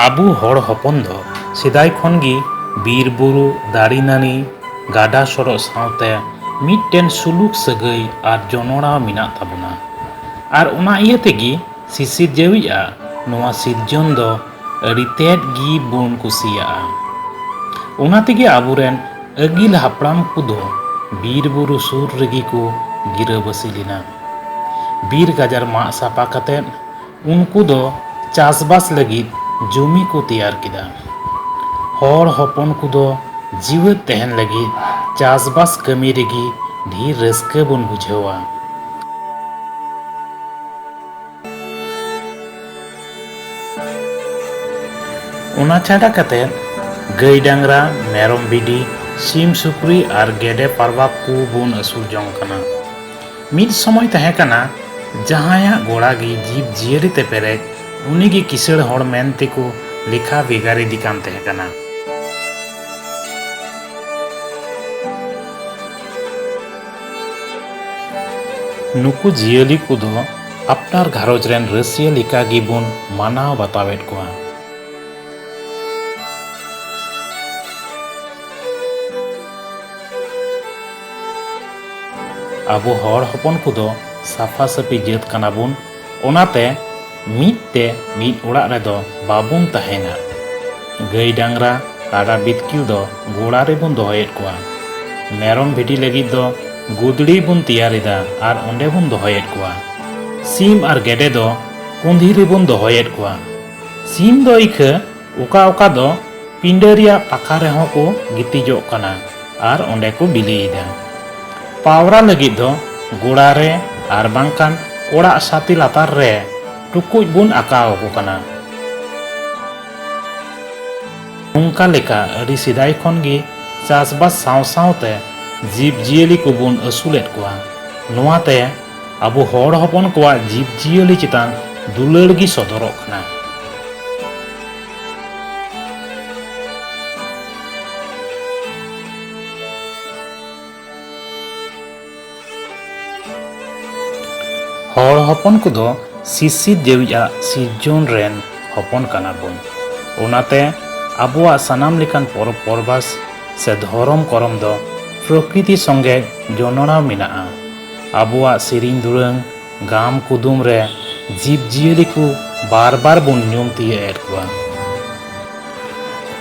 ᱟᱵᱚ ᱦᱚᱲ ᱦᱚᱯᱚᱱ ᱫᱚ ᱥᱮᱫᱟᱭ ᱠᱷᱚᱱ ᱜᱮ ᱵᱤᱨ ᱵᱩᱨᱩ ᱫᱟᱨᱮ ᱱᱟᱹᱲᱤ ᱜᱟᱰᱟ ᱥᱚᱰᱚᱜ ᱥᱟᱶᱛᱮ ᱢᱤᱫᱴᱮᱱ ᱥᱩᱞᱩᱠ ᱥᱟᱹᱜᱟᱹᱭ ᱟᱨ ᱡᱚᱱᱚᱲᱟᱣ ᱢᱮᱱᱟᱜ ᱛᱟᱵᱚᱱᱟ ᱟᱨ ᱚᱱᱟ ᱤᱭᱟᱹ ᱛᱮᱜᱮ ᱥᱤᱥᱤᱨᱡᱟᱹᱣᱤᱡ ᱟᱜ ᱱᱚᱣᱟ ᱥᱤᱨᱡᱚᱱ ᱫᱚ ᱟᱹᱰᱤ ᱛᱮᱫ ᱜᱮ ᱵᱚᱱ ᱠᱩᱥᱤᱭᱟᱜᱼᱟ ᱚᱱᱟ ᱛᱮᱜᱮ ᱟᱵᱚᱨᱮᱱ ᱟᱹᱜᱤᱞ ᱦᱟᱯᱲᱟᱢ ᱠᱚᱫᱚ ᱵᱤᱨ ᱵᱩᱨᱩ ᱥᱩᱨ ᱨᱮᱜᱮ ᱠᱚ ᱜᱤᱨᱟᱹᱵᱟᱹᱥᱤ ᱞᱮᱱᱟ ᱵᱤᱨ ᱜᱟᱡᱟᱲ ᱢᱟᱜ ᱥᱟᱯᱟ ᱠᱟᱛᱮ ᱩᱱᱠᱩ ᱫᱚ ᱪᱟᱥᱵᱟᱥ ᱞᱟᱹᱜᱤᱫ ᱡᱩᱢᱤ ᱠᱚ ᱛᱮᱭᱟᱨ ᱠᱮᱫᱟ᱾ ᱦᱚᱲ ᱦᱚᱯᱚᱱ ᱠᱚ ᱫᱚ ᱡᱤᱣᱟᱹᱫ ᱛᱟᱦᱮᱱ ᱞᱟᱹᱜᱤᱫ ᱪᱟᱥᱵᱟᱥ ᱠᱟᱹᱢᱤ ᱨᱮᱜᱮ ᱰᱷᱤᱨ ᱨᱟᱹᱥᱠᱟᱹ ᱵᱚᱱ ᱵᱩᱡᱷᱟᱹᱣᱟ᱾ ᱚᱱᱟ ᱪᱷᱟᱰᱟ ᱠᱟᱛᱮ ᱜᱟᱹᱭ ᱰᱟᱝᱨᱟ, ᱢᱮᱨᱚᱢ ᱵᱷᱤᱰᱤ, ᱥᱤᱢ ᱥᱩᱠᱨᱤ ᱟᱨ ᱜᱮᱰᱮ ᱯᱟᱨᱣᱟ ᱠᱚ ᱵᱚᱱ ᱟᱹᱥᱩᱞ ᱡᱚᱝ ᱠᱟᱱᱟ᱾ ᱢᱤᱫ ᱥᱚᱢᱚᱭ ᱛᱟᱦᱮᱸ ᱠᱟᱱᱟ ᱡᱟᱦᱟᱸᱭᱟᱜ ᱜᱚᱲᱟ ᱜᱮ ᱡᱤᱵᱽ ᱡᱤᱭᱟᱹᱞᱤ ᱛᱮ ᱯᱮᱨᱮᱡ ᱩᱱᱤ ᱜᱮ ᱠᱤᱥᱟᱹᱬ ᱦᱚᱲ ᱢᱮᱱ ᱛᱮᱠᱚ ᱞᱮᱠᱷᱟ ᱵᱷᱮᱜᱟᱨ ᱤᱫᱤ ᱠᱟᱱ ᱛᱟᱦᱮᱸ ᱠᱟᱱᱟ᱾ ᱱᱩᱠᱩ ᱡᱤᱭᱟᱹᱞᱤ ᱠᱚᱫᱚ ᱟᱯᱱᱟᱨ ᱜᱷᱟᱨᱚᱸᱡᱽ ᱨᱮᱱ ᱨᱟᱹᱥᱤᱭᱟᱹ ᱞᱮᱠᱟ ᱜᱮ ᱵᱚᱱ ᱢᱟᱱᱟᱣ ᱵᱟᱛᱟᱣᱮᱫ ᱠᱚᱣᱟ᱾ ᱟᱵᱚ ᱦᱚᱲ ᱦᱚᱯᱚᱱ ᱠᱚᱫᱚ ᱥᱟᱯᱷᱟ ᱥᱟᱹᱯᱷᱤ ᱡᱟᱹᱛ ᱠᱟᱱᱟ ᱵᱚᱱ ᱚᱱᱟᱛᱮ ᱢᱤᱫ ᱛᱮ ᱢᱤᱫ ᱚᱲᱟᱜ ᱨᱮᱫᱚ ᱵᱟᱵᱚᱱ ᱛᱟᱦᱮᱱᱟ ᱜᱟᱹᱭ ᱰᱟᱝᱨᱟ ᱠᱟᱰᱟ ᱵᱤᱛᱠᱤᱞ ᱫᱚ ᱜᱚᱲᱟ ᱨᱮᱵᱚᱱ ᱫᱚᱦᱚᱭᱮᱫ ᱠᱚᱣᱟ ᱢᱮᱨᱚᱢ ᱵᱷᱤᱰᱤ ᱞᱟᱹᱜᱤᱫ ᱫᱚ ᱜᱩᱫᱽᱲᱤ ᱵᱚᱱ ᱛᱮᱭᱟᱨ ᱮᱫᱟ ᱟᱨ ᱚᱸᱰᱮ ᱵᱚᱱ ᱫᱚᱦᱚᱭᱮᱫ ᱠᱚᱣᱟ ᱥᱤᱢ ᱟᱨ ᱜᱮᱰᱮ ᱫᱚ ᱠᱩᱸᱫᱷᱤ ᱨᱮᱵᱚᱱ ᱫᱚᱦᱚᱭᱮᱫ ᱠᱚᱣᱟ ᱥᱤᱢ ᱫᱚ ᱤᱠᱷᱟᱹ ᱚᱠᱟ ᱚᱠᱟ ᱫᱚ ᱯᱤᱸᱰᱟᱹ ᱨᱮᱭᱟᱜ ᱯᱟᱠᱷᱟ ᱨᱮᱦᱚᱸ ᱠᱚ ᱜᱤᱛᱤᱡᱚᱜ ᱠᱟᱱᱟ ᱟᱨ ᱚᱸᱰᱮ ᱠᱚ ᱵᱤᱞᱤᱭᱮᱫᱟ᱾ ᱯᱟᱣᱨᱟ ᱞᱟᱹᱜᱤᱫ ᱫᱚ ᱜᱚᱲᱟ ᱨᱮ ᱟᱨ ᱵᱟᱝᱠᱷᱟᱱ ᱚᱲᱟᱜ ᱥᱟᱛᱮ ᱞᱟᱛᱟᱨ ᱨᱮ ᱴᱩᱠᱩᱡ ᱵᱚᱱ ᱟᱠᱟᱣ ᱟᱠᱚ ᱠᱟᱱᱟ᱾ ᱱᱚᱝᱠᱟ ᱞᱮᱠᱟ ᱟᱹᱰᱤ ᱥᱮᱫᱟᱭ ᱠᱷᱚᱱ ᱜᱮ ᱪᱟᱥᱵᱟᱥ ᱥᱟᱶ ᱥᱟᱶᱛᱮ ᱡᱤᱵᱽ ᱡᱤᱭᱟᱹᱞᱤ ᱠᱚᱵᱚᱱ ᱟᱹᱥᱩᱞᱮᱫ ᱠᱚᱣᱟ᱾ ᱱᱚᱣᱟ ᱛᱮ ᱟᱵᱚ ᱦᱚᱲ ᱦᱚᱯᱚᱱ ᱠᱚᱣᱟᱜ ᱡᱤᱵᱽ ᱡᱤᱭᱟᱹᱞᱤ ᱪᱮᱛᱟᱱ ᱫᱩᱞᱟᱹᱲ ᱜᱮ ᱥᱚᱫᱚᱨᱚᱜ ᱠᱟᱱᱟ ᱦᱚᱲ ᱦᱚᱯᱚᱱ ᱠᱚᱫᱚ ᱥᱤᱥᱤᱨ ᱡᱮᱣᱤᱡᱟᱜ ᱥᱤᱨᱡᱚᱱ ᱨᱮᱱ ᱦᱚᱯᱚᱱ ᱠᱟᱱᱟ ᱵᱚᱱ ᱚᱱᱟᱛᱮ ᱟᱵᱚᱣᱟᱜ ᱥᱟᱱᱟᱢ ᱞᱮᱠᱟᱱ ᱯᱚᱨᱚᱵᱽ ᱯᱚᱨᱵᱟᱥ ᱥᱮ ᱫᱷᱚᱨᱚᱢ ᱠᱚᱨᱚᱢ ᱫᱚ ᱯᱨᱚᱠᱨᱤᱛᱤ ᱥᱚᱸᱜᱮ ᱡᱚᱱᱚᱲᱟᱣ ᱢᱮᱱᱟᱜᱼᱟ ᱟᱵᱚᱣᱟᱜ ᱥᱮᱨᱮᱧ ᱫᱩᱨᱟᱹᱝ ᱜᱟᱢ ᱠᱩᱫᱩᱢ ᱨᱮ ᱡᱤᱵᱽ ᱡᱤᱭᱟᱹᱞᱤ ᱠᱚ ᱵᱟᱨ ᱵᱟᱨ ᱵᱚᱱ ᱧᱩᱢ ᱛᱤᱭᱟᱹᱜ ᱮᱫ ᱠᱚᱣᱟ᱾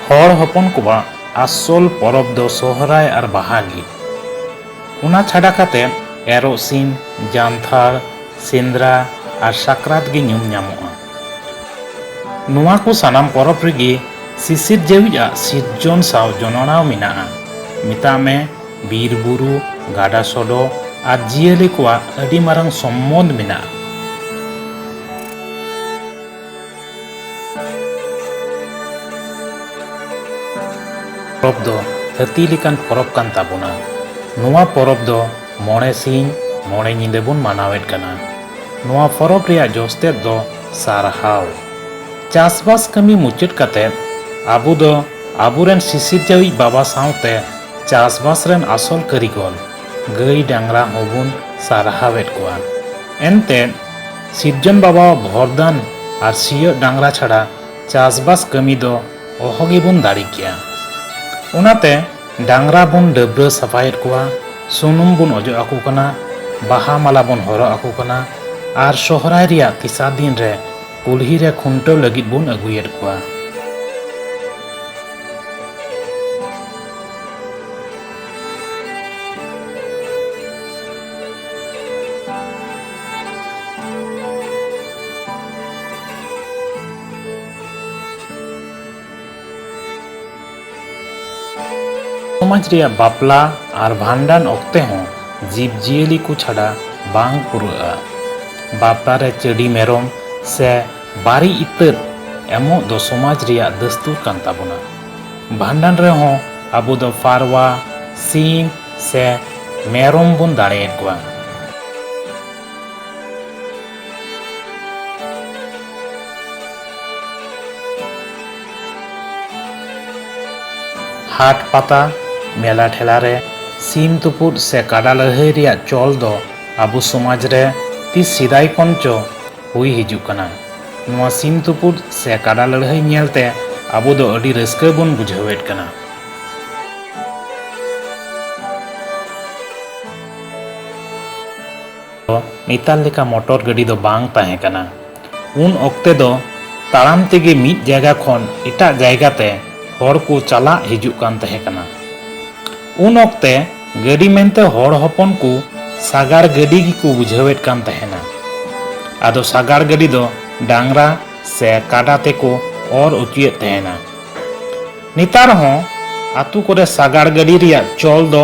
ᱦᱚᱲ ᱦᱚᱯᱚᱱ ᱠᱚᱣᱟᱜ ᱟᱥᱚᱞ ᱯᱚᱨᱚᱵᱽ ᱫᱚ ᱥᱚᱦᱨᱟᱭ ᱟᱨ ᱵᱟᱦᱟ ᱜᱮ᱾ ᱚᱱᱟ ᱪᱷᱟᱰᱟ ᱠᱟᱛᱮ ᱮᱨᱚᱜ ᱥᱤᱢ, ᱡᱟᱱᱛᱷᱟᱲ, ᱥᱮᱸᱫᱽᱨᱟ ᱟᱨ ᱥᱟᱠᱨᱟᱛ ᱜᱮ ᱧᱩᱢ ᱧᱟᱢᱚᱜᱼᱟ᱾ ᱱᱚᱣᱟ ᱠᱚ ᱥᱟᱱᱟᱢ ᱯᱚᱨᱚᱵᱽ ᱨᱮᱜᱮ ᱥᱤᱥᱤᱨᱡᱟᱹᱣᱤᱡ ᱟᱜ ᱥᱤᱨᱡᱚᱱ ᱥᱟᱶ ᱡᱚᱱᱚᱲᱟᱣ ᱢᱮᱱᱟᱜᱼᱟ᱾ ᱢᱮᱛᱟᱜ ᱢᱮ ᱵᱤᱨ ᱵᱩᱨᱩ, ᱜᱟᱰᱟ ᱥᱚᱰᱚ ᱟᱨ ᱡᱤᱭᱟᱹᱞᱤ ᱠᱚᱣᱟᱜ ᱟᱹᱰᱤ ᱢᱟᱨᱟᱝ ᱥᱚᱢᱵᱚᱸᱫᱷ ᱢᱮᱱᱟᱜᱼᱟ᱾ ᱯᱚᱨᱚᱵᱽ ᱫᱚ ᱦᱟᱹᱛᱤ ᱞᱮᱠᱟᱱ ᱯᱚᱨᱚᱵᱽ ᱠᱟᱱ ᱛᱟᱵᱚᱱᱟ᱾ ᱱᱚᱣᱟ ᱯᱚᱨᱚᱵᱽ ᱫᱚ᱾ ᱢᱚᱬᱮ ᱥᱤᱧ ᱢᱚᱬᱮ ᱧᱤᱫᱟᱹ ᱵᱚᱱ ᱢᱟᱱᱟᱣᱮᱫ ᱠᱟᱱᱟ᱾ ᱱᱚᱣᱟ ᱯᱚᱨᱚᱵᱽ ᱨᱮᱭᱟᱜ ᱡᱚᱥ ᱛᱮᱫ ᱫᱚ ᱥᱟᱨᱦᱟᱣ᱾ ᱪᱟᱥᱵᱟᱥ ᱠᱟᱹᱢᱤ ᱢᱩᱪᱟᱹᱫ ᱠᱟᱛᱮ ᱟᱵᱚ ᱫᱚ ᱟᱵᱚ ᱨᱮᱱ ᱥᱤᱥᱤᱨᱡᱟᱹᱣᱤᱡ ᱵᱟᱵᱟ ᱥᱟᱶᱛᱮ ᱪᱟᱥᱵᱟᱥ ᱨᱮᱱ ᱟᱥᱚᱞ ᱠᱟᱹᱨᱤᱜᱚᱞ, ᱜᱟᱹᱭ ᱰᱟᱝᱨᱟ ᱦᱚᱸ ᱵᱚᱱ ᱥᱟᱨᱦᱟᱣᱮᱫ ᱠᱚᱣᱟ᱾ ᱮᱱᱛᱮ ᱥᱤᱨᱡᱚᱱ ᱵᱟᱵᱟᱣᱟᱜ ᱵᱷᱚᱨᱫᱟᱱ ᱟᱨ ᱥᱤᱭᱚᱜ ᱰᱟᱝᱨᱟ ᱪᱷᱟᱰᱟ ᱪᱟᱥᱵᱟᱥ ᱠᱟᱹᱢᱤ ᱫᱚ ᱚᱦᱚ ᱜᱮ ᱵᱚᱱ ᱫᱟᱲᱮ ᱠᱮᱭᱟ᱾ ᱚᱱᱟᱛᱮ᱾ ᱰᱟᱝᱨᱟ ᱵᱚᱱ ᱰᱟᱹᱵᱽᱨᱟᱹ ᱥᱟᱯᱷᱟᱭᱮᱫ ᱠᱚᱣᱟ, ᱥᱩᱱᱩᱢ ᱵᱚᱱ ᱚᱡᱚᱜ ᱟᱠᱚ ᱠᱟᱱᱟ, ᱵᱟᱦᱟ ᱢᱟᱞᱟ ᱵᱚᱱ ᱦᱚᱨᱚᱜ ᱟᱠᱚ ᱠᱟᱱᱟ ᱟᱨ ᱥᱚᱦᱨᱟᱭ ᱨᱮᱭᱟᱜ ᱛᱮᱥᱟᱨ ᱫᱤᱱ ᱨᱮ ᱠᱩᱞᱦᱤ ᱨᱮ ᱠᱷᱩᱱᱴᱟᱹᱣ ᱞᱟᱹᱜᱤᱫ ᱵᱚᱱ ᱟᱹᱜᱩᱭᱮᱫ ᱠᱚᱣᱟ᱾ ᱥᱚᱢᱟᱡᱽ ᱨᱮᱭᱟᱜ ᱵᱟᱯᱞᱟ ᱟᱨ ᱵᱷᱟᱸᱰᱟᱱ ᱚᱠᱛᱮ ᱦᱚᱸ ᱡᱤᱵᱽ ᱡᱤᱭᱟᱹᱞᱤ ᱠᱚ ᱪᱷᱟᱰᱟ ᱵᱟᱝ ᱯᱩᱨᱟᱹᱜᱼᱟ ᱵᱟᱯᱞᱟ ᱨᱮ ᱪᱟᱹᱰᱤ ᱢᱮᱨᱚᱢ ᱥᱮ ᱵᱟᱨᱤ ᱤᱛᱟᱹᱫ ᱮᱢᱚᱜ ᱫᱚ ᱥᱚᱢᱟᱡᱽ ᱨᱮᱭᱟᱜ ᱫᱟᱹᱥᱛᱩᱨ ᱠᱟᱱ ᱛᱟᱵᱚᱱᱟ ᱵᱷᱟᱸᱰᱟᱱ ᱨᱮᱦᱚᱸ ᱟᱵᱚ ᱫᱚ ᱯᱟᱨᱣᱟ ᱥᱤᱢ ᱥᱮ ᱢᱮᱨᱚᱢ ᱵᱚᱱ ᱫᱟᱲᱮᱭᱟᱠᱚᱣᱟ ᱦᱟᱴ ᱯᱟᱛᱟ ᱢᱮᱞᱟ ᱴᱷᱮᱞᱟ ᱨᱮ ᱥᱤᱢ ᱛᱩᱯᱩᱫ ᱥᱮ ᱠᱟᱰᱟ ᱞᱟᱹᱲᱦᱟᱹᱭ ᱨᱮᱭᱟᱜ ᱪᱚᱞ ᱫᱚ ᱟᱵᱚ ᱥᱚᱢᱟᱡᱽ ᱨᱮ ᱛᱤᱥ ᱥᱮᱫᱟᱭ ᱠᱷᱚᱱ ᱪᱚ ᱦᱩᱭ ᱦᱤᱡᱩᱜ ᱠᱟᱱᱟ ᱱᱚᱣᱟ ᱥᱤᱢ ᱛᱩᱯᱩᱫ ᱥᱮ ᱠᱟᱰᱟ ᱞᱟᱹᱲᱦᱟᱹᱭ ᱧᱮᱞ ᱛᱮ ᱟᱵᱚ ᱫᱚ ᱟᱹᱰᱤ ᱨᱟᱹᱥᱠᱟᱹ ᱵᱚᱱ ᱵᱩᱡᱷᱟᱹᱣᱮᱫ ᱠᱟᱱᱟ ᱫᱚ ᱱᱮᱛᱟᱨ ᱞᱮᱠᱟ ᱢᱚᱴᱚᱨ ᱜᱟᱹᱰᱤ ᱫᱚ ᱵᱟᱝ ᱛᱟᱦᱮᱸ ᱠᱟᱱᱟ᱾ ᱩᱱ ᱚᱠᱛᱮ ᱫᱚ ᱛᱟᱲᱟᱢ ᱛᱮᱜᱮ ᱢᱤᱫ ᱡᱟᱭᱜᱟ ᱠᱷᱚᱱ ᱮᱴᱟᱜ ᱡᱟᱭᱜᱟ ᱛᱮ ᱦᱚᱲ ᱠᱚ ᱪᱟᱞᱟᱜ ᱦᱤᱡᱩᱜ ᱠᱟᱱ ᱛᱟᱦᱮᱸ ᱠᱟᱱᱟ᱾ ᱩᱱ ᱚᱠᱛᱮ ᱜᱟᱹᱰᱤ ᱢᱮᱱᱛᱮ ᱦᱚᱲ ᱦᱚᱯᱚᱱ ᱠᱚ ᱥᱟᱜᱟᱲ ᱜᱟᱹᱰᱤ ᱜᱮᱠᱚ ᱵᱩᱡᱷᱟᱹᱣᱮᱫ ᱠᱟᱱ ᱛᱟᱦᱮᱸᱱᱟ᱾ ᱟᱫᱚ ᱥᱟᱜᱟᱲ ᱜᱟᱹᱰᱤ ᱫᱚ ᱰᱟᱝᱨᱟ ᱥᱮ ᱠᱟᱰᱟ ᱛᱮ ᱠᱚ ᱚᱨ ᱚᱪᱚᱭᱮᱫ ᱛᱟᱦᱮᱸᱱᱟ᱾ ᱱᱮᱛᱟᱨ ᱦᱚᱸ ᱟᱹᱛᱩ ᱠᱚᱨᱮ ᱥᱟᱜᱟᱲ ᱜᱟᱹᱰᱤ ᱨᱮᱭᱟᱜ ᱪᱚᱞ ᱫᱚ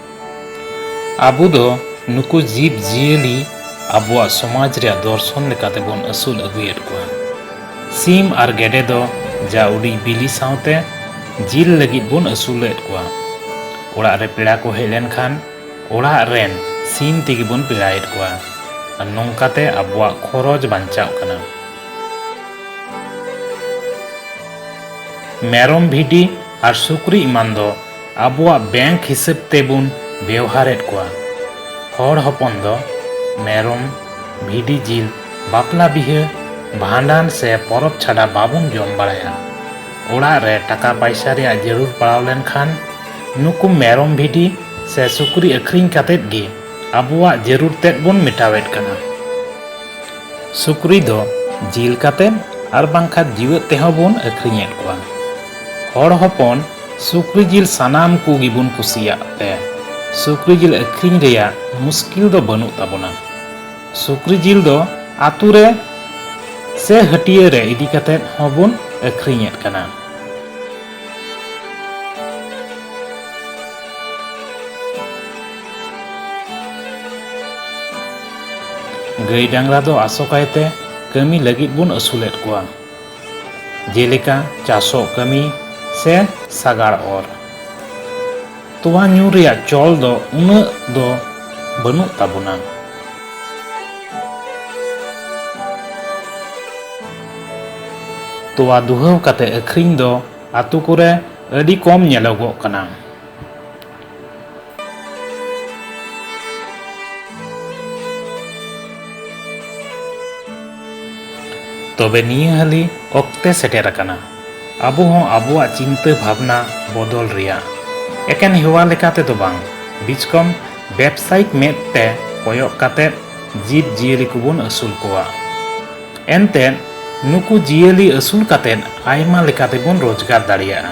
ᱟᱵᱚ ᱫᱚ ᱱᱩᱠᱩ ᱡᱤᱵᱽ ᱡᱤᱭᱟᱹᱞᱤ ᱟᱵᱚᱣᱟᱜ ᱥᱚᱢᱟᱡᱽ ᱨᱮᱭᱟᱜ ᱫᱚᱨᱥᱚᱱ ᱞᱮᱠᱟᱛᱮ ᱵᱚᱱ ᱟᱹᱥᱩᱞ ᱟᱹᱜᱩᱭᱮᱫ ᱠᱚᱣᱟ᱾ ᱥᱤᱢ ᱟᱨ ᱜᱮᱰᱮ ᱫᱚ ᱡᱟ ᱩᱰᱤᱡ ᱵᱤᱞᱤ ᱥᱟᱶᱛᱮ ᱡᱤᱞ ᱞᱟᱹᱜᱤᱫ ᱵᱚᱱ ᱟᱹᱥᱩᱞᱮᱫ ᱠᱚᱣᱟ᱾ ᱚᱲᱟᱜ ᱨᱮ ᱯᱮᱲᱟ ᱠᱚ ᱦᱮᱡ ᱞᱮᱱ ᱠᱷᱟᱱ ᱚᱲᱟᱜ ᱨᱮᱱ ᱥᱤᱢ ᱛᱮᱜᱮ ᱵᱚᱱ ᱯᱮᱲᱟᱭᱮᱫ ᱠᱚᱣᱟ ᱟᱨ ᱱᱚᱝᱠᱟ ᱛᱮ ᱟᱵᱚᱣᱟᱜ ᱠᱷᱚᱨᱚᱪ ᱵᱟᱧᱪᱟᱜ ᱠᱟᱱᱟ᱾ ᱢᱮᱨᱚᱢ ᱵᱷᱤᱰᱤ ᱟᱨ ᱥᱩᱠᱨᱤ ᱮᱢᱟᱱ ᱫᱚ ᱟᱵᱚᱣᱟᱜ ᱵᱮᱝᱠ ᱦᱤᱥᱟᱹᱵ ᱛᱮᱵᱚᱱ ᱵᱮᱣᱦᱟᱨᱮᱫ ᱠᱚᱣᱟ ᱦᱚᱲ ᱦᱚᱯᱚᱱ ᱫᱚ ᱢᱮᱨᱚᱢ ᱵᱷᱤᱰᱤ ᱡᱤᱞ ᱵᱟᱯᱞᱟ ᱵᱤᱦᱟᱹ ᱵᱷᱟᱸᱰᱟᱱ ᱥᱮ ᱯᱚᱨᱚᱵ ᱪᱷᱟᱰᱟ ᱵᱟᱵᱚᱱ ᱡᱚᱢ ᱵᱟᱲᱟᱭᱟ ᱚᱲᱟᱜ ᱨᱮ ᱴᱟᱠᱟ ᱯᱟᱭᱥᱟ ᱨᱮᱭᱟᱜ ᱡᱟᱹᱨᱩᱲ ᱯᱟᱲᱟᱣ ᱞᱮᱱᱠᱷᱟᱱ ᱱᱩᱠᱩ ᱢᱮᱨᱚᱢ ᱵᱷᱤᱰᱤ ᱥᱮ ᱥᱩᱠᱨᱤ ᱟᱹᱠᱷᱨᱤᱧ ᱠᱟᱛᱮᱫ ᱜᱮ ᱟᱵᱚᱣᱟᱜ ᱡᱟᱹᱨᱩᱲ ᱛᱮᱫ ᱵᱚᱱ ᱢᱮᱴᱟᱣᱮᱫ ᱠᱟᱱᱟ ᱥᱩᱠᱨᱤ ᱫᱚ ᱡᱤᱞ ᱠᱟᱛᱮᱫ ᱟᱨ ᱵᱟᱝᱠᱷᱟᱱ ᱡᱤᱣᱮᱫ ᱛᱮᱦᱚᱸ ᱵᱚᱱ ᱟᱹᱠᱷᱨᱤᱧᱮᱫ ᱠᱚᱣᱟ ᱦᱚᱲ ᱦᱚᱯᱚᱱ ᱥᱩᱠᱨᱤ ᱡᱤᱞ ᱥᱟᱱᱟᱢ ᱠᱚ ᱜᱮᱵᱚᱱ ᱠᱩᱥᱤᱭᱟᱜ ᱛᱮ ᱥᱩᱠᱨᱤ ᱡᱤᱞ ᱟᱹᱠᱷᱨᱤᱧ ᱨᱮᱭᱟᱜ ᱢᱩᱥᱠᱤᱞ ᱫᱚ ᱵᱟᱹᱱᱩᱜ ᱛᱟᱵᱚᱱᱟ᱾ ᱥᱩᱠᱨᱤ ᱡᱤᱞ ᱫᱚ ᱟᱹᱛᱩ ᱨᱮ ᱥᱮ ᱦᱟᱹᱴᱤᱭᱟᱹ ᱨᱮ ᱤᱫᱤ ᱠᱟᱛᱮ ᱦᱚᱸ ᱵᱚᱱ ᱟᱹᱠᱷᱨᱤᱧ ᱮᱫ ᱠᱟᱱᱟ᱾ ᱜᱟᱹᱭ ᱰᱟᱝᱨᱟ ᱫᱚ ᱟᱥᱚᱠᱟᱭ ᱛᱮ ᱠᱟᱹᱢᱤ ᱞᱟᱹᱜᱤᱫ ᱵᱚᱱ ᱟᱹᱥᱩᱞ ᱮᱫ ᱠᱚᱣᱟ᱾ ᱡᱮᱞᱮᱠᱟ ᱪᱟᱥᱚᱜ ᱠᱟᱹᱢᱤ ᱥᱮ ᱥᱟᱜᱟᱲ ᱚᱨ᱾ ᱛᱚᱣᱟ ᱧᱩ ᱨᱮᱭᱟᱜ ᱪᱚᱞ ᱫᱚ ᱩᱱᱟᱹᱜ ᱫᱚ ᱵᱟᱹᱱᱩᱜ ᱛᱟᱵᱚᱱᱟ᱾ ᱛᱚᱣᱟ ᱫᱩᱦᱟᱹᱣ ᱠᱟᱛᱮ ᱟᱹᱠᱷᱨᱤᱧ ᱫᱚ ᱟᱹᱛᱩ ᱠᱚᱨᱮ ᱟᱹᱰᱤ ᱠᱚᱢ ᱧᱮᱞᱚᱜᱚᱜ ᱠᱟᱱᱟ᱾ ᱛᱚᱵᱮ ᱱᱤᱭᱟᱹ ᱦᱟᱹᱞᱤ ᱚᱠᱛᱮ ᱥᱮᱴᱮᱨ ᱟᱠᱟᱱᱟ ᱟᱵᱚ ᱦᱚᱸ ᱟᱵᱚᱣᱟᱜ ᱪᱤᱱᱛᱟᱹ ᱵᱷᱟᱵᱽᱱᱟ ᱵᱚᱫᱚᱞ ᱨᱮᱭᱟᱜ ᱮᱠᱮᱱ ᱦᱮᱣᱟ ᱞᱮᱠᱟ ᱛᱮᱫᱚ ᱵᱟᱝ ᱵᱤᱪᱠᱚᱢ ᱵᱮᱵᱽᱥᱟᱭᱤᱠ ᱢᱮᱫ ᱛᱮ ᱠᱚᱭᱚᱜ ᱠᱟᱛᱮ ᱡᱤᱵᱽ ᱡᱤᱭᱟᱹᱞᱤ ᱠᱚᱵᱚᱱ ᱟᱹᱥᱩᱞ ᱠᱚᱣᱟ ᱮᱱᱛᱮ ᱱᱩᱠᱩ ᱡᱤᱭᱟᱹᱞᱤ ᱟᱹᱥᱩᱞ ᱠᱟᱛᱮ ᱟᱭᱢᱟ ᱞᱮᱠᱟ ᱛᱮᱵᱚᱱ ᱨᱳᱡᱽᱜᱟᱨ ᱫᱟᱲᱮᱭᱟᱜᱼᱟ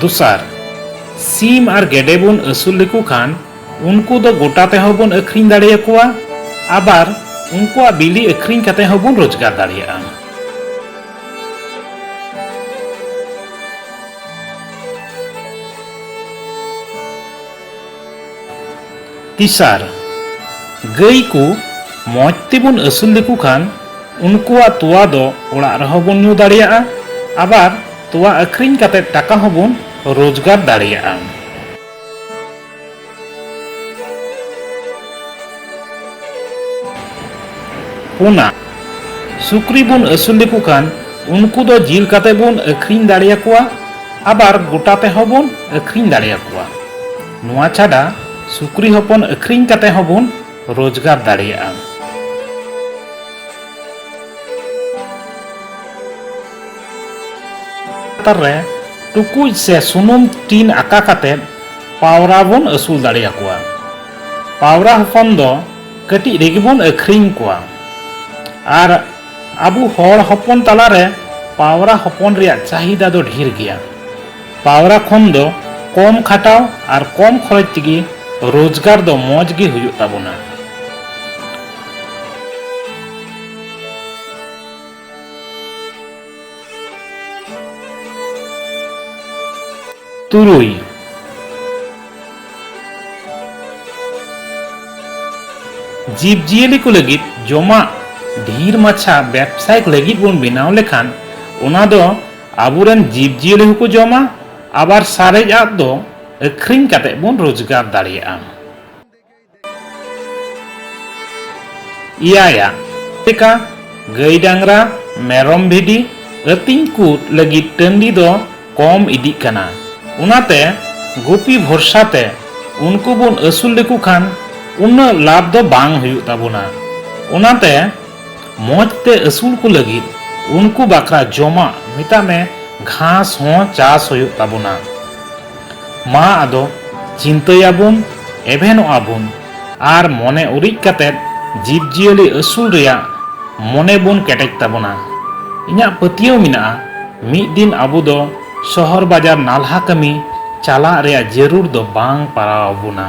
ᱫᱚᱥᱟᱨ ᱥᱤᱢ ᱟᱨ ᱜᱮᱰᱮ ᱵᱚᱱ ᱟᱹᱥᱩᱞ ᱞᱮᱠᱚ ᱠᱷᱟᱱ ᱩᱱᱠᱩ ᱫᱚ ᱜᱚᱴᱟ ᱛᱮᱦᱚᱸ ᱵᱚᱱ ᱟᱹᱠᱷᱨᱤᱧ ᱫᱟᱲᱮᱭᱟᱠᱚᱣᱟ ᱟᱵᱟᱨ ᱩᱱᱠᱩᱣᱟᱜ ᱵᱤᱞᱤ ᱟᱹᱠᱷᱨᱤᱧ ᱠᱟᱛᱮ ᱦᱚᱸ ᱵᱚᱱ ᱨᱳᱡᱽᱜᱟᱨ ᱫᱟᱲᱮᱭᱟᱜᱼᱟ ᱛᱤᱥᱟᱨ, ᱜᱟᱹᱭ ᱠᱚ ᱢᱚᱡᱽ ᱛᱮᱵᱚᱱ ᱟᱹᱥᱩᱞ ᱞᱮᱠᱚ ᱠᱷᱟᱱ ᱩᱱᱠᱩᱣᱟᱜ ᱛᱚᱣᱟ ᱫᱚ ᱚᱲᱟᱜ ᱨᱮᱦᱚᱸ ᱵᱚᱱ ᱧᱩ ᱫᱟᱲᱮᱭᱟᱜᱼᱟ ᱟᱵᱟᱨ ᱛᱚᱣᱟ ᱟᱹᱠᱷᱨᱤᱧ ᱠᱟᱛᱮ ᱴᱟᱠᱟ ᱦᱚᱸ ᱵᱚᱱ ᱨᱳᱡᱽᱜᱟᱨ ᱫᱟᱲᱮᱭᱟᱜᱼᱟ᱾ ᱯᱩᱱᱟ ᱥᱩᱠᱨᱤ ᱵᱚᱱ ᱟᱹᱥᱩᱞ ᱞᱮᱠᱚ ᱠᱷᱟᱱ ᱩᱱᱠᱩ ᱫᱚ ᱡᱤᱞ ᱠᱟᱛᱮ ᱵᱚᱱ ᱟᱹᱠᱷᱨᱤᱧ ᱫᱟᱲᱮᱭᱟᱠᱚᱣᱟ ᱟᱵᱟᱨ ᱜᱚᱴᱟ ᱛᱮᱦᱚᱸ ᱵᱚᱱ ᱟᱹᱠᱷᱨᱤᱧ ᱫᱟᱲᱮᱭᱟᱠᱚᱣᱟ ᱱᱚᱣᱟ ᱪᱷᱟᱰᱟ ᱥᱩᱠᱨᱤ ᱦᱚᱯᱚᱱ ᱟᱹᱠᱷᱨᱤᱧ ᱠᱟᱛᱮ ᱦᱚᱸ ᱵᱚᱱ ᱨᱳᱡᱽᱜᱟᱨ ᱫᱟᱲᱮᱭᱟᱜᱼᱟ ᱞᱟᱛᱟᱨ ᱨᱮ ᱴᱩᱠᱩᱡ ᱥᱮ ᱥᱩᱱᱩᱢ ᱴᱤᱱ ᱟᱠᱟ ᱠᱟᱛᱮ ᱯᱟᱣᱨᱟ ᱵᱚᱱ ᱟᱹᱥᱩᱞ ᱫᱟᱲᱮᱭᱟᱠᱚᱣᱟ ᱯᱟᱣᱨᱟ ᱦᱚᱯᱚᱱ ᱫᱚ ᱠᱟᱹᱴᱤᱡ ᱨᱮᱜᱮ ᱵᱚᱱ ᱟᱹᱠᱷᱨᱤᱧ ᱠᱚᱣᱟ ᱟᱨ ᱟᱵᱚ ᱦᱚᱲ ᱦᱚᱯᱚᱱ ᱛᱟᱞᱟ ᱨᱮ ᱯᱟᱣᱨᱟ ᱦᱚᱯᱚᱱ ᱨᱮᱭᱟᱜ ᱪᱟᱦᱤᱫᱟ ᱫᱚ ᱰᱷᱮᱨ ᱜᱮᱭᱟ᱾ ᱯᱟᱣᱨᱟ ᱠᱷᱚᱱ ᱫᱚ ᱠᱚᱢ ᱠᱷᱟᱴᱟᱣ ᱟᱨ ᱠᱚᱢ ᱠᱷᱚᱨᱚᱪ ᱛᱮᱜᱮ ᱨᱚᱡᱽᱜᱟᱨ ᱫᱚ ᱢᱚᱡᱽ ᱜᱮ ᱦᱩᱭᱩᱜ ᱛᱟᱵᱚᱱᱟ᱾ ᱛᱩᱨᱩᱭ ᱡᱤᱵᱽ ᱡᱤᱭᱟᱹᱞᱤ ᱠᱚ ᱞᱟᱹᱜᱤᱫ ᱡᱚᱢᱟᱜ ᱰᱷᱤᱨ ᱢᱟᱪᱷᱟ ᱵᱮᱵᱽᱥᱟᱭᱤᱠ ᱞᱟᱹᱜᱤᱫ ᱵᱚᱱ ᱵᱮᱱᱟᱣ ᱞᱮᱠᱷᱟᱱ ᱚᱱᱟ ᱫᱚ ᱟᱵᱚᱨᱮᱱ ᱡᱤᱵᱽ ᱡᱤᱭᱟᱹᱞᱤ ᱦᱚᱸᱠᱚ ᱡᱚᱢᱟ ᱟᱵᱟᱨ ᱥᱟᱨᱮᱡᱟᱜ ᱫᱚ ᱟᱹᱠᱷᱨᱤᱧ ᱠᱟᱛᱮ ᱵᱚᱱ ᱨᱳᱡᱽᱜᱟᱨ ᱫᱟᱲᱮᱭᱟᱜᱼᱟ ᱤᱭᱟᱭᱟ ᱞᱮᱠᱟ ᱜᱟᱹᱭ ᱰᱟᱝᱨᱟ ᱢᱮᱨᱚᱢ ᱵᱷᱤᱰᱤ ᱟᱹᱛᱤᱧ ᱠᱚ ᱞᱟᱹᱜᱤᱫ ᱴᱟᱺᱰᱤ ᱫᱚ ᱠᱚᱢ ᱤᱫᱤᱜ ᱠᱟᱱᱟ ᱚᱱᱟᱛᱮ ᱜᱩᱯᱤ ᱵᱷᱚᱨᱥᱟ ᱛᱮ ᱩᱱᱠᱩ ᱵᱚᱱ ᱟᱹᱥᱩᱞ ᱞᱮᱠᱚ ᱠᱷᱟᱱ ᱩᱱᱟᱹᱜ ᱞᱟᱵᱷ ᱫᱚ ᱵᱟᱝ ᱦᱩᱭᱩᱜ ᱛᱟᱵᱚᱱᱟ ᱚᱱᱟᱛᱮ ᱢᱚᱡᱽ ᱛᱮ ᱟᱹᱥᱩᱞ ᱠᱚ ᱞᱟᱹᱜᱤᱫ ᱩᱱᱠᱩ ᱵᱟᱠᱷᱨᱟ ᱡᱚᱢᱟᱜ ᱢᱮᱛᱟᱜ ᱢᱮ ᱜᱷᱟᱥ ᱦᱚᱸ ᱪᱟᱥ ᱦᱩᱭᱩᱜ ᱛᱟᱵᱚᱱᱟ ᱢᱟ ᱟᱫᱚ ᱪᱤᱱᱛᱟᱹᱭᱟᱵᱚᱱ ᱮᱵᱷᱮᱱᱚᱜ ᱟᱵᱚᱱ ᱟᱨ ᱢᱚᱱᱮ ᱩᱨᱤᱡ ᱠᱟᱛᱮᱫ ᱡᱤᱵᱽᱡᱤᱭᱟᱹᱞᱤ ᱟᱹᱥᱩᱞ ᱨᱮᱭᱟᱜ ᱢᱚᱱᱮ ᱵᱚᱱ ᱠᱮᱴᱮᱡ ᱛᱟᱵᱚᱱᱟ᱾ ᱤᱧᱟᱜ ᱯᱟᱹᱛᱭᱟᱹᱣ ᱢᱮᱱᱟᱜᱼᱟ ᱢᱤᱫ ᱫᱤᱱ ᱟᱵᱚ ᱫᱚ ᱥᱚᱦᱚᱨ ᱵᱟᱡᱟᱨ ᱱᱟᱞᱦᱟ ᱠᱟᱹᱢᱤ ᱪᱟᱞᱟᱜ ᱨᱮᱭᱟᱜ ᱡᱟᱹᱨᱩᱲ ᱫᱚ ᱵᱟᱝ ᱯᱟᱲᱟᱣ ᱟᱵᱚᱱᱟ᱾